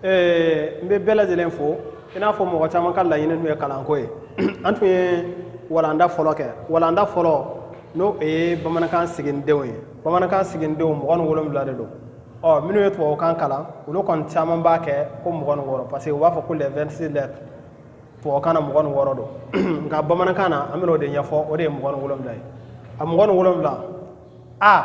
n bɛ bɛɛ lajɛlen fo i n'a fɔ mɔgɔ caman ka laɲini tun ye kalanko ye an tun ye walanda fɔlɔ kɛ walanda fɔlɔ n'o ye bamanankan siginidenw ye bamanankan siginidenw mugan ni wolonwula de don ɔ minnu ye tubabukan kalan olu kɔni caman b'a kɛ ko mugan ni wɔɔrɔ parce que u b'a fɔ ko les 26 lettres tubabukan na mugan ni wɔɔrɔ don nka bamanankan na an bɛna o de ɲɛfɔ o de ye mugan ni wolonwula ye a mugan ni wolonwula a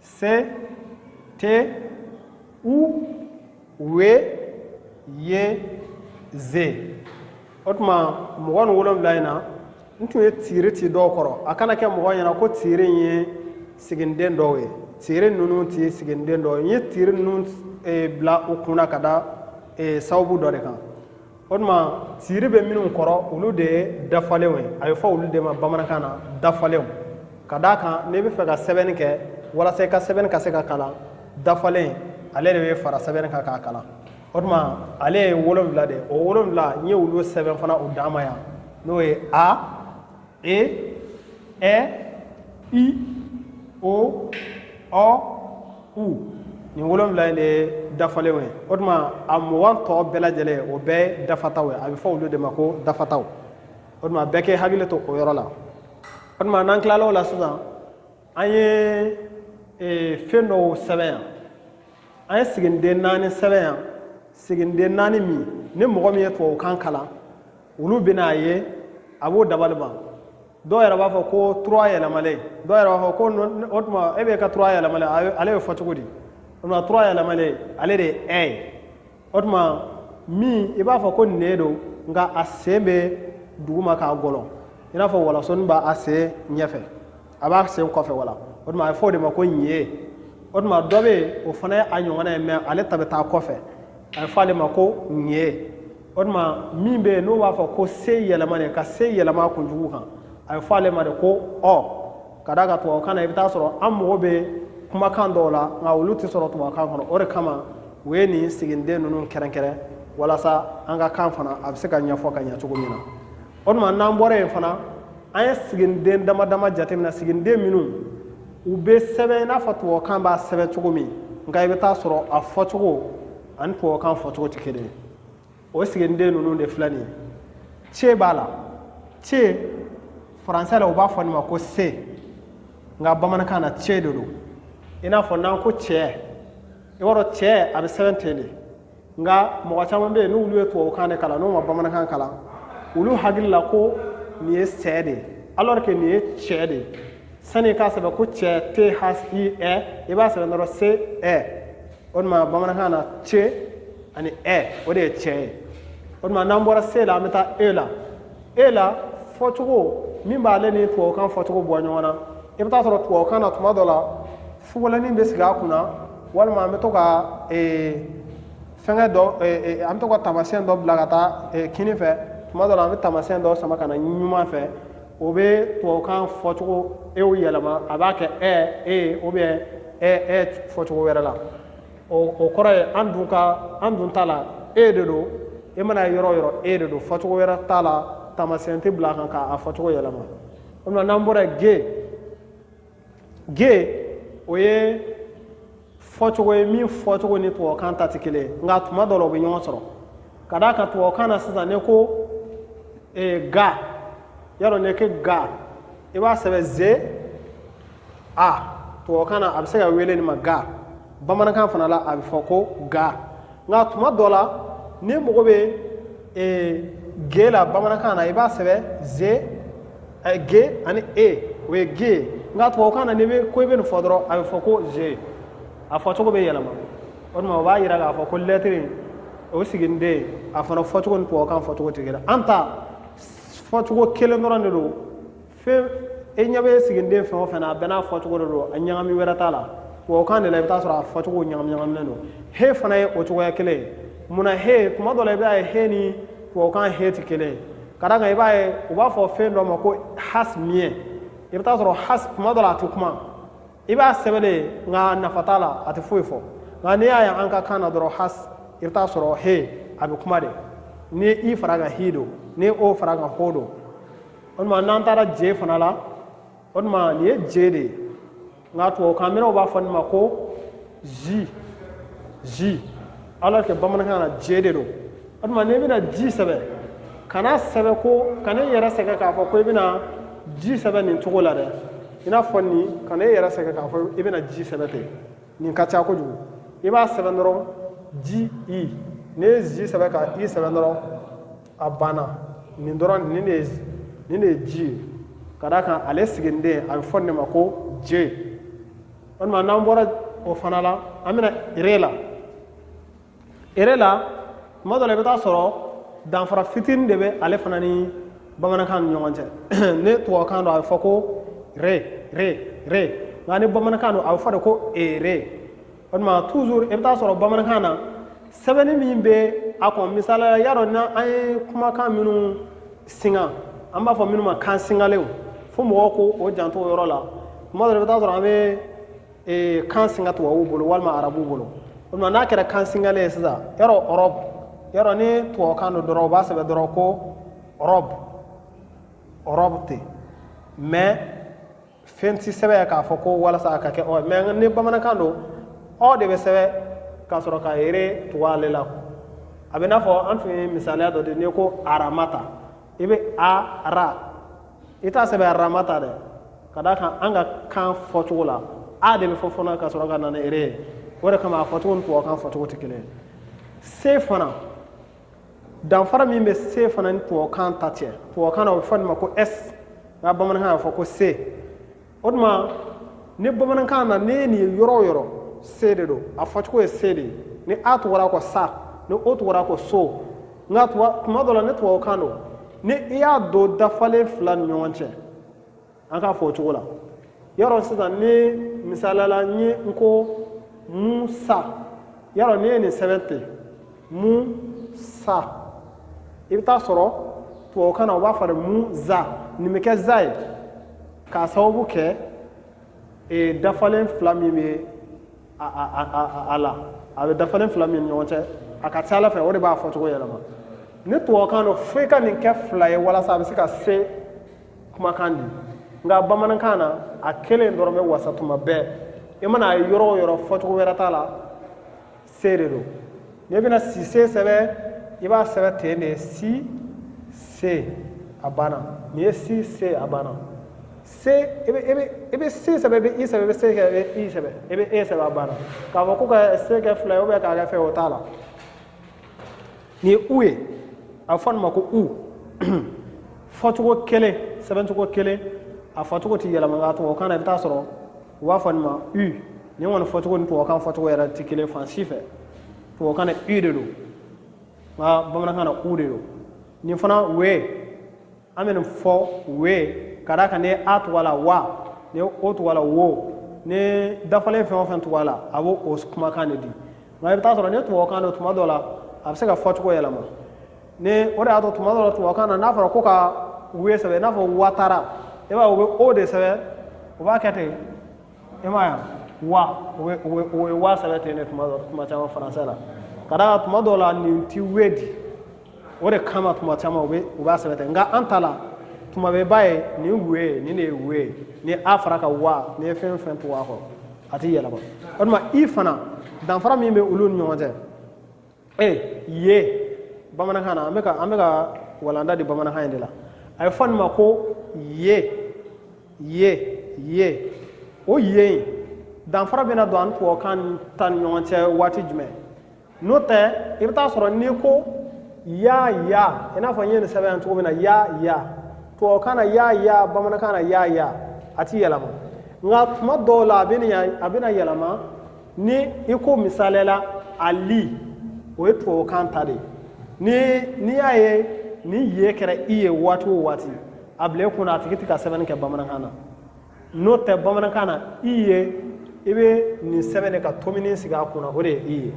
se te u we ye ze o tuma mugan ni wolonwula in na n tun ye tiiri ci dɔw kɔrɔ a kana kɛ mɔgɔ ɲɛna ko tiiri in ye siginiden dɔw ye tiiri ninnu tɛ siginiden dɔw ye n ye tiiri ninnu eh, bila u kunna ka da eh, sababu dɔ de kan o tuma tiiri bɛ minnu kɔrɔ olu de ye dafalenw ye a bɛ fɔ olu de ma bamanankan na dafalenw ka d'a kan n'i bɛ fɛ ka sɛbɛnni kɛ walasa i ka sɛbɛnni ka se ka kalan dafalen ale de bɛ fara sɛbɛnni kan k'a kalan o tuma ale ye wolonwula de ye o wolonwula n ye olu sɛbɛn fana u dama yan n'o ye a e ɛ i o ɔ u nin wolonwula in de ye dafalenw ye o tuma a mugan tɔ bɛɛ lajɛlen o bɛɛ ye dafataw ye a bɛ fɔ olu de ma ko dafataw o tuma bɛɛ k'i hakili to o yɔrɔ la o tuma n'an tilal'o la sisan an ye ee, fɛn dɔw sɛbɛn yan an ye siginiden naani sɛbɛn yan siginiden naani min ni mɔgɔ min ye tubabukan kalan olu bɛna a ye a b'o dabali ban dɔw yɛrɛ b'a fɔ ko trois yɛlɛmalen dɔw yɛrɛ b'a fɔ ko o tuma e bɛ ka trois yɛlɛmalen ale bɛ fɔ cogo di o tuma trois yɛlɛmalen ale de ye ɛ ye o tuma min i b'a fɔ ko ne don nka a sen bɛ duguma k'a gɔlɔn i n'a fɔ walasɔni b'a a sen ɲɛfɛ a b'a sen kɔfɛ wala o tuma a bɛ fɔ o de ma ko ɲe o tuma dɔ bɛ yen o fana ye a ɲɔgɔnna ye mais ale ta bɛ taa kɔfɛ a bɛ fɔ ale ma ko ŋe o tuma min bɛ yen n'u b'a fɔ ko se yɛlɛma de ka se yɛlɛma kunjugu kan a bɛ fɔ ale ma de ko ɔ ka d'a kan tubabukan na i bɛ taa sɔrɔ an mago bɛ kumakan dɔw la nka olu tɛ sɔrɔ tubabukan kɔnɔ o de kama u ye nin siginiden ninnu kɛrɛnkɛrɛn walasa an ka kan fana a bɛ se ka ɲɛfɔ ka ɲɛ cogo min na o tuma n'an bɔra yen fana an ye siginiden dama dama jateminɛ siginiden minnu u bɛ sɛbɛn i n'a fɔ tubabukan b'a sɛbɛn cogo min nka i bɛ taa sɔrɔ a fɔcogo ani tubabukan fɔcogo tɛ kelen ye o siginiden ninnu de filɛ nin ye ce b'a la ce faransɛ la u b'a fɔ nin ma ko se nka bamanankan na ce de don i n'a fɔ n'an ko cɛ i b'a dɔn cɛ a bɛ sɛbɛn ten de nka mɔgɔ caman bɛ yen n'olu ye tubabukan de kalan n'u ma bamanankan kalan olu hakili la ko nin ye sɛ de ye alors que nin ye cɛ de ye sani i k'a sɛbɛn ko cɛ t h i ɛ i b'a sɛbɛn dɔrɔn se ɛ o tuma bamanankan na ce ani ɛ o de ye cɛ ye o tuma n'an bɔra se la an bɛ taa e la e la fɔcogo min b'ale ni tubabukan fɔcogo bɔ ɲɔgɔn na i bɛ t'a sɔrɔ tubabukan na tuma dɔ la fugulanin bɛ sigi a kunna walima an bɛ to ka fɛngɛ dɔ an bɛ to ka taamasiyɛn dɔ bila ka taa kinin fɛ tuma dɔ la an bɛ taamasiyɛn dɔ sama ka na numan fɛ o bɛ tubabukan fɔcogo e yɛlɛma a b'a kɛ ɛ e o bɛ ɛ fɔcogo wɛrɛ la o kɔrɔ ye an dun ka an dun ta la e de don e mana yɔrɔ o yɔrɔ e de don fɔcogo wɛrɛ t'a la taamasiyɛn tɛ bila a kan k'a fɔcogo yɛlɛma o tuma n'an bɔra ge ge o ye fɔcogo ye min fɔcogo ni tubabukan ta tɛ kelen ye nka tuma dɔ la u bɛ ɲɔgɔn sɔrɔ ka d'a kan tubabukan na sisan n'i ko eh, ga y'a dɔn n'i ko ga i b'a sɛbɛn ze a tubabukan na a bɛ se ka wele nin ma ga bamanankan fana la a bɛ fɔ ko ga nka tuma dɔ la ni mɔgɔ bɛ eh, ge la bamanankan na i b'a sɛbɛn ze A ye ge ani e o ye ge ye nka tubabu kan na n'i bɛ ko i bɛ nin fɔ dɔrɔn a bɛ fɔ ko ze a fɔcogo bɛ yɛlɛma o tuma o b'a jira k'a fɔ ko lɛtiri o siginiden a fana fɔcogo ni tubabu kan fɔcogo tɛ kelen an ta fɔcogo kelen dɔrɔn de don fɛn i ɲɛ bɛ siginiden fɛn o fɛn na a bɛɛ n'a fɔcogo de don a ɲagami wɛrɛ t'a la tubabu kan de la i bɛ t'a sɔrɔ a fɔcogo ɲagami ɲagaminen don he fana ye o cogoya kelen ye munna he tuma dɔ la i b'a ye he ni tubabu kan he tɛ kelen ye ka d'a kan i b'a ye u b'a fɔ fɛn dɔ ma ko has muet i bɛ t'a sɔrɔ has tuma dɔ la a tɛ kuma i b'a sɛbɛn de nka nafa t'a la a tɛ foyi fɔ nka n'i y'a ye an ka kan na dɔrɔn has i bɛ t'a sɔrɔ he a bɛ kuma de ni i far'a kan hi don ni o far'a kan ho don o tuma n'an taara je fana la o tuma nin ye je de ye nka tubabukan mɛnnaw b'a fɔ nin ma ko ji ji alors que bamanankan na je de don o tuma n'i bɛna ji sɛbɛn kan'a sɛbɛn ko kana i yɛrɛ sɛgɛn k'a fɔ ko i bɛna ji sɛbɛn nin cogo la dɛ i n'a fɔ nin kana i yɛrɛ sɛgɛn k'a fɔ i bɛna ji sɛbɛn ten nin ka ca kojugu i b'a sɛbɛn dɔrɔn ji i n'i ye ji sɛbɛn ka i sɛbɛn dɔrɔn a banna nin dɔrɔn nin de nin de ye ji ye ka d'a kan ale siginiden a bɛ fɔ nin ma ko je o tuma n'an bɔra o fana la an bɛna ere la ere la tuma dɔ la i bɛ t'a sɔrɔ danfara fitinin de bɛ ale fana ni bamanankan ni ɲɔgɔn cɛ ni tubabukan don a bɛ fɔ ko re re re nka ni bamanankan don a bɛ fɔ de ko ere o tuma toujours i bɛ taa sɔrɔ bamanankan na sɛbɛnni min bɛ a kɔn misali la y'a dɔn n'an an ye kumakan minnu singa an b'a fɔ minnu ma kan singalenw fo mɔgɔw k'u janto o yɔrɔ la tuma dɔ la i bɛ taa sɔrɔ an bɛ ee, kan singa tubabuw bolo walima arabuw bolo o tuma n'a kɛra kan singalen ye sisan y'a dɔn ɔrɔbu y'a dɔn ni tubabukan don dɔrɔn u b'a sɛbɛn dɔrɔn ko ɔrɔbu ɔrɔbu ten mais fɛn tɛ sɛbɛn k'a fɔ ko walasa a ka kɛ ɔ mais ni bamanankan don ɔ de bɛ sɛbɛn ka sɔrɔ ka ere tugu ale la a bɛ n'a fɔ an tun ye misaliya dɔ di n'i ko aramata i bɛ a ra i t'a sɛbɛn ramata dɛ ka d'a kan an ka kan fɔcogo la a de bɛ fɔ fɔlɔ ka sɔrɔ ka na ni ere ye o de kama a fɔcogo ni tubabukan fɔcogo tɛ kelen ye se fana danfara min bɛ se fana ni tubabukan ta cɛ tubabukan na o bɛ fɔ nin ma ko s nka bamanankan na a bɛ fɔ ko se o tuma ni bamanankan na n'i ye nin ye yɔrɔ o yɔrɔ se de don a fɔcogo ye se de ye ni a tugura ko sa ni o tugura ko so nka tuma dɔ la ni tubabukan don ni i y'a don dafalen fila ni ɲɔgɔn cɛ an k'a fɔ o cogo la y'a dɔn sisan ni misali la ni n ko mu sa y'a dɔn n'i ye nin sɛbɛn ten mu sa i bɛ taa sɔrɔ tubabukan na u b'a fɔ de mu za nin bɛ kɛ za ye k'a sababu kɛ ee dafalen fila min bɛ a a a a la a bɛ dafalen fila min ni ɲɔgɔn cɛ a ka ca a la fɛ o de b'a fɔcogo yɛlɛma ni tubabukan don fo i ka nin kɛ fila ye walasa a bɛ se ka se kumakan di nka bamanankan na a kelen dɔrɔn bɛ wasa tuma bɛɛ i mana a ye yɔrɔ o yɔrɔ fɔcogo wɛrɛ t'a la se de don n'i bɛna sise sɛbɛn i b'a sɛbɛn ten de si se a banna nin ye si se a banna se i bɛ i bɛ i bɛ se sɛbɛn i bɛ i sɛbɛn i bɛ se kɛ i bɛ i sɛbɛn i bɛ e sɛbɛn a banna k'a fɔ ko ka se kɛ fila ye k'a kɛ fɛn o t'a la nin ye u ye a fɔ nin ma ko u fɔcogo kelen sɛbɛncogo kelen a fɔcogo tɛ yɛlɛma nka tubabukan na i bɛ taa sɔrɔ u b'a fɔ nin ma u nin kɔni fɔcogo ni tubabukan fɔcogo yɛrɛ tɛ kelen fan si fɛ tubabukan na u de don nka bamanankan na u de don nin fana we an bɛ nin fɔ we ka d'a kan ni a tugura a la wa ni o tugura a la wo ni dafalen fɛn o fɛn tugura a la a bɛ o kumakan de di nka i bɛ taa sɔrɔ ni tubabukan don tuma dɔ la a bɛ se ka fɔcogo yɛlɛma n'o de y'a to tuma dɔ la tubabukan na n'a fɔra ko ka we sɛbɛn i n'a fɔ watara i b'a ye u bɛ o de sɛbɛn u b'a kɛ ten e m'a ye wa u bɛ u bɛ o ye wa sɛbɛn ten de tuma dɔ tuma caman faransɛ la ka d'a kan tuma dɔw la nin ti we di o de kama tuma caman u bɛ u b'a sɛbɛn ten nka an ta la tuma bɛɛ b'a ye nin we nin de ye we ye ni a fara a kan wa n'i ye fɛn o fɛn tugu a kɔ a ti yɛlɛma o tuma i fana danfara min bɛ olu ni ɲɔgɔn cɛ ee ye bamanankan na an bɛ ka an bɛ ka walanda di bamanankan in de la a ye fɔ nin ma ko ye ye ye o ye in danfara bɛna don a ni tubabukan ta ni ɲɔgɔn cɛ waati jumɛn n'o tɛ i bɛ t'a sɔrɔ n'i ko ya ya i n'a fɔ n ye nin sɛbɛn yan cogo min na ya ya tubabukan na ya ya bamanankan na ya ya a ti yɛlɛma nka tuma dɔw la a bɛna yɛlɛma ni i ko misaliya la ali o ye tubabukan ta de ye ni n'i y'a ye ni ye kɛra i ye waati o waati a bila i kunna a tigi tɛ ka sɛbɛnni kɛ bamanankan na n'o tɛ bamanankan na i ye i bɛ nin sɛbɛn de ka tomini sigi a kunna o de ye i ye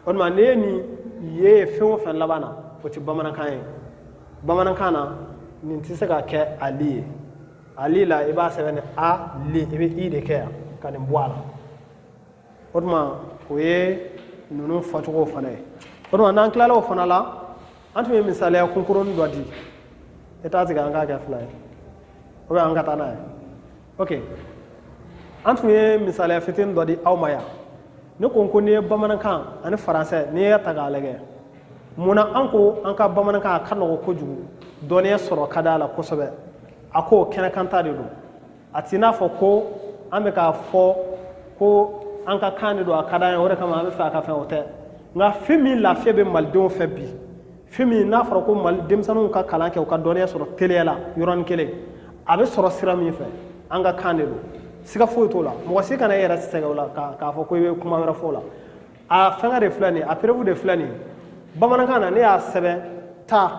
o tuma n'i ye nin ye fɛn o fɛn laban na o tɛ bamanankan ye bamanankan na nin tɛ se ka kɛ ali ye ali la i b'a sɛbɛn ni a li i bɛ i de kɛ yan ka nin bɔ a la o tuma o ye ninnu fɔcogo fana ye o tuma n'an tilala o fana la an tun ye misaliya kunkurunin dɔ di i t'a tigɛ an k'a kɛ a fila ye o bɛ an ka taa n'a ye ok an tun ye misaliya fitinin dɔ di aw ma yan ne tun ko n'i ye bamanankan ani faransɛ n'i y'a ta k'a lajɛ mun na an ko an ka bamanankan a ka nɔgɔ kojugu dɔnniya sɔrɔ ka d'a la kosɛbɛ a ko kɛnɛkanta de don a t'i n'a fɔ ko an bɛ k'a fɔ ko an ka kan de don a ka d'an ye o de kama an b'a fɛ a ka fɛn o tɛ nka fɛn min lafiya bɛ malidenw fɛ bi fɛn min n'a fɔra ko mali denmisɛnninw ka kalan kɛ u ka dɔnniya sɔrɔ teliya la yɔrɔnin kelen a bɛ sɔrɔ sira min fɛ an ka kan de don siga foyi t'o la mɔgɔ si kana i yɛrɛ sɛgɛn o la k'a fɔ ko i bɛ kuma wɛrɛ fɔ o la a fɛngɛ de filɛ nin ye a preuve de filɛ nin ye bamanankan na ne y'a sɛbɛn taa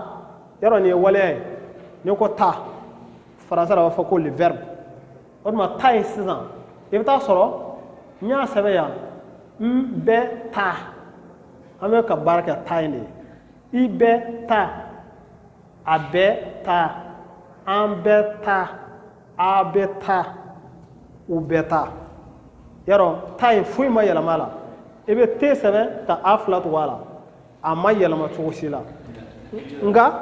yɔrɔ nin ye waleya ye n'i ko taa faransɛ la a b'a fɔ ko le verbe o tuma taa in sisan i bɛ t'a sɔrɔ n y'a sɛbɛn yan n bɛ taa an bɛ ka baara kɛ taa in de ye i bɛ taa a bɛ taa an bɛ taa a bɛ taa u bɛ taa yan rɔ taa in foyi ma yɛlɛma a la i bɛ te sɛbɛn ka a fila tugu a la a ma yɛlɛma cogo si la nka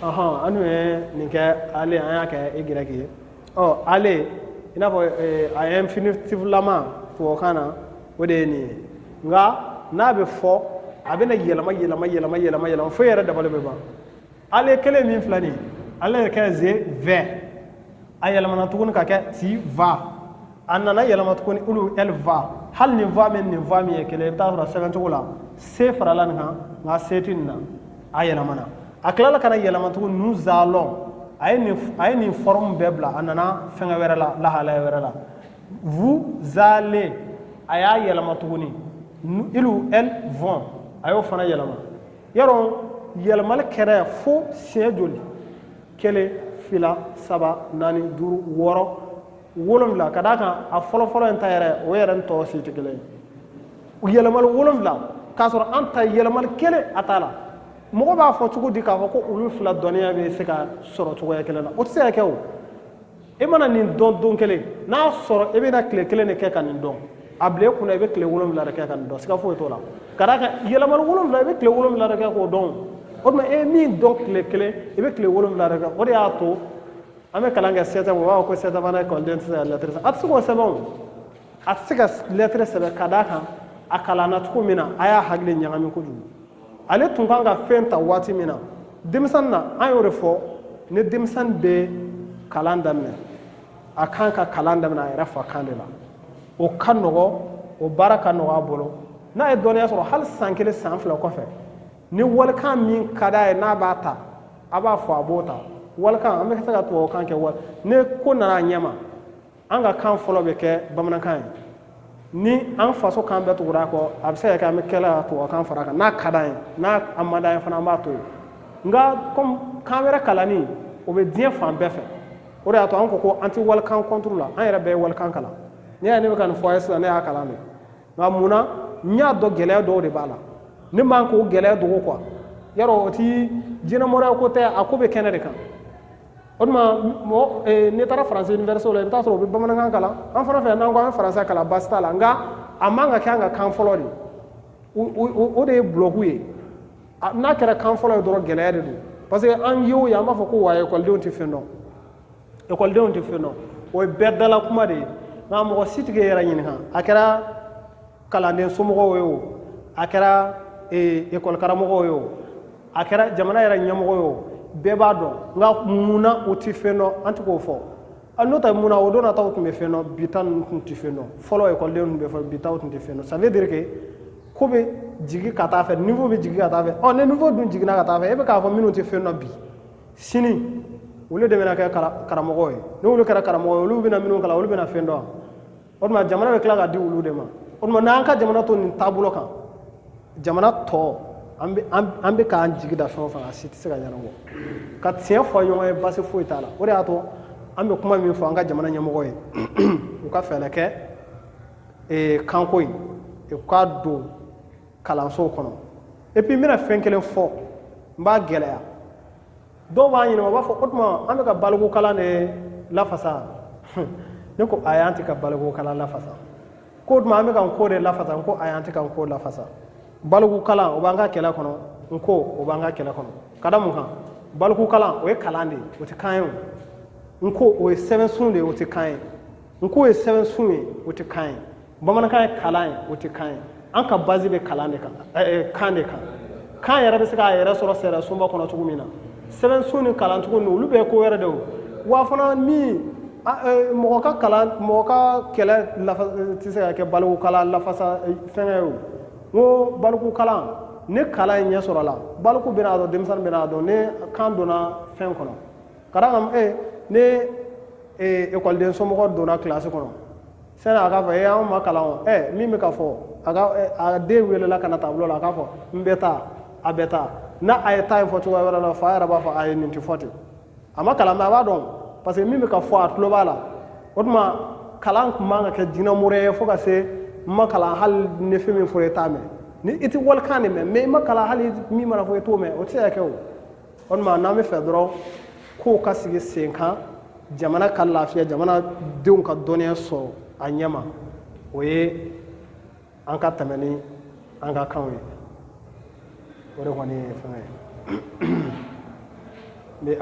ɔhɔn an dun ye nin kɛ aller an y'a kɛ igɛrɛki ye ɔ aller i n'a fɔ eh, a ye infinitiflama tubabukan na o de ye nin ye nka n'a bɛ fɔ a bɛna yɛlɛma yɛlɛma yɛlɛma yɛlɛma yɛlɛma fo e yɛrɛ dabali bɛ ban ale kelen min filɛ nin ye ale yɛrɛ kɛ je vais a yɛlɛmana tuguni ka kɛ tu vas a nana yɛlɛma tuguni il elle va hali nin va min nin va min ye kelen i bɛ taa sɔrɔ sɛbɛn cogo la se farala nin kan nka se tɛ nin na a yɛlɛmana a tilala ka na yɛlɛma tuguni nous allons a ye nin a ye nin fɔrɔmu bɛɛ bila a nana fɛngɛ wɛrɛ la lahalaya wɛrɛ la vous allez a y'a yɛlɛma tuguni ils elles vont a y'o fana yɛlɛma yɔrɔ yɛlɛmali kɛra fo siɲɛ joli kelen fila saba naani duuru wɔɔrɔ wolonwula ka d'a kan a fɔlɔfɔlɔ in ta yɛrɛ o yɛrɛ ni tɔw si tɛ kelen ye u yɛlɛmali wolonwula k'a sɔrɔ an ta yɛlɛmali kelen a t'a la mɔgɔ b'a fɔ cogo di k'a fɔ ko olu fila dɔnniya bɛ se ka sɔrɔ cogoya kelen na o tɛ se ka kɛ o e mana nin dɔn don kelen n'a sɔrɔ e bɛna tile kelen de kɛ ka nin dɔn a bila e kunna i bɛ tile wolonwula de kɛ ka nin dɔn siga foyi t'o la ka d'a kan yɛlɛmali wolonwula i bɛ tile wolonwula de kɛ k'o dɔn o tuma e ye min dɔn tile kelen i bɛ tile wolonwula de kɛ o de y'a to an bɛ kalan kɛ sept ans u b'a fɔ ko sept ans fana kɔnɔ den tɛ se ka lɛtɛrɛ sɛbɛn a tɛ se k'o sɛbɛn o a tɛ se ka lɛtɛrɛ sɛbɛn ka d'a kan a kalanna cogo min na a y'a hakili ɲagami kojugu ale tun kan ka fɛn ta waati min na denmisɛnnin na an y'o de fɔ ni denmisɛnnin bɛ kalan daminɛ a kan ka kalan daminɛ a yɛrɛ fa kan de la o ka nɔgɔ o baara ka nɔgɔ a bolo n'a ye dɔnniya sɔrɔ hali san kelen san fila kɔfɛ ni walikan min ka d'a ye n'a b'a ta a b'a fɔ a b'o ta walikan an bɛ se ka tubabukan kɛ wali ni ko nana a ɲɛma an ka kan fɔlɔ bɛ kɛ bamanankan ye ni an faso kan bɛɛ tugura kɔ a bɛ se ka kɛ an bɛ tila ka tubabukan fara kan n'a ka d'an ye n'a a man d'an ye fana an b'a to yen nka kɔmi kan wɛrɛ kalanni o bɛ diɲɛ fan bɛɛ fɛ o de y'a to an ko ko an tɛ walikan kɔnturu la an yɛrɛ bɛɛ ye walikan kalan ne y'a ne bɛ ka nin fɔ a ye sisan ne y'a kalan de nka mun na n y'a dɔn gɛlɛya dɔw de b'a la ne man k'o gɛlɛya dogo quoi yarɔ o ti jinɛmoriya ko tɛ a ko bɛ kɛnɛ de kan o tuma mɔgɔ n'i taara faransi université la i bɛ taa sɔrɔ u bɛ bamanankan kalan an fana fɛ n'an ko an faransɛ kalan baasi t'a la nka a man ka kɛ an ka kan fɔlɔ de o de ye bulɔku ye n'a kɛra kan fɔlɔ ye dɔrɔn gɛlɛya de don parce que an ye o ye an b'a fɔ ko wa ekɔlidenw tɛ fɛn dɔn ekɔlidenw tɛ fɛn dɔn o ye bɛɛ dala kuma de ye nka mɔgɔ si t'i yɛrɛ ɲininka a kɛra kalanden somɔgɔw ye o a kɛra ekɔlikaramɔgɔw ye o a kɛra jamana yɛrɛ ɲɛmɔgɔ ye o bɛɛ b'a dɔn nka mun na u tɛ fɛn dɔn an tɛ k'o fɔ n'o tɛ mun na o don na taw tun bɛ fɛn dɔn bi ta ninnu tun tɛ fɛn dɔn fɔlɔ ekɔliden tun bɛ fɔ bi taw tun tɛ fɛn dɔn ça veut dire que ko bɛ jigin ka taa fɛ niveau bɛ jigin ka taa fɛ ɔ ni niveau dun jiginna ka taa fɛ e bɛ k'a fɔ minnu tɛ fɛn dɔn bi sini olu de bɛna kɛ karamɔgɔ ye n'olu kɛra karamɔgɔ ye olu bɛna minnu kalan olu bɛna fɛn dɔn o tuma jamana bɛ tila ka di olu de ma o tuma n'an ka jamana to nin taabolo kan jamana tɔ an bɛ k'an jigi da fɛn o fɛn a si tɛ se ka ɲɛnabɔ ka tiɲɛ fɔ ɲɔgɔn ye basi foyi t'a la o de y'a to an bɛ kuma min fɔ an ka jamana ɲɛmɔgɔ ye u ka fɛɛrɛ kɛ kanko in u k'a don kalansow kɔnɔ epi n bɛna fɛn kelen fɔ n b'a gɛlɛya dɔw b'a ɲininka u b'a fɔ o tuma an bɛ ka balikukalan de lafasa ne ko ayi an tɛ ka balikukalan lafasa k'o tuma an bɛ ka nko de lafasa n ko ayi an tɛ ka nko lafasa balikukalan o b'an ka kɛlɛ kɔnɔ nko o b'an ka kɛlɛ kɔnɔ ka da mun kan balikukalan o ye kalan de ye o tɛ kan ye o nko o ye sɛbɛnsun de ye o tɛ kan ye nko ye sɛbɛnsun ye o tɛ kan ye bamanankan ye kalan ye o tɛ kan ye an ka bazi bɛ kalan de kan kan de kan kan yɛrɛ bɛ se k'a yɛrɛ sɔrɔ sɛɛrɛ sunba kɔnɔ cogo min na sɛbɛnsun ni kalancogo ninnu olu bɛɛ ye ko wɛrɛ de o wa fana ni mɔgɔ ka kalan mɔgɔ ka kɛlɛ nafa tɛ se ka kɛ balikukalan lafasa fɛnkɛ ye o n ko balikukalan ni kalan ɲɛ sɔrɔla baliku bɛna a dɔn denmisɛnnin bɛna a dɔn ni kan donna fɛn kɔnɔ ka d'a kan ni ekɔliden somɔgɔ donna kilasi kɔnɔ sani a k'a fɔ e eh, anw ma kalan o ɛ eh, min bɛ ka fɔ a ka eh, a den welela ka na tabulo la a k'a fɔ n bɛ taa a bɛ taa n'a a ye taa in fɔ cogoya wɛrɛ la fa yɛrɛ b'a fɔ a ye nin tɛ fɔ ten a ma kalan mais a b'a dɔn parce que min bɛ ka fɔ a tulo b'a la o tuma kalan tun man kan ka kɛ jinɛmori ye fo ka se n ma kalan hali ni fɛn min fɔ i t'a mɛn ni i tɛ walikan de mɛn mɛ i ma kalan hali min mana fɔ i t'o mɛn o tɛ se ka kɛ o o tuma n'an b'a fɛ dɔrɔn kow ka sigi sen kan jamana ka lafiya jamana denw ka dɔnniya sɔrɔ a ɲɛma o ye an ka tɛmɛ ni an ka kanw ye o de kɔni ye fɛn ye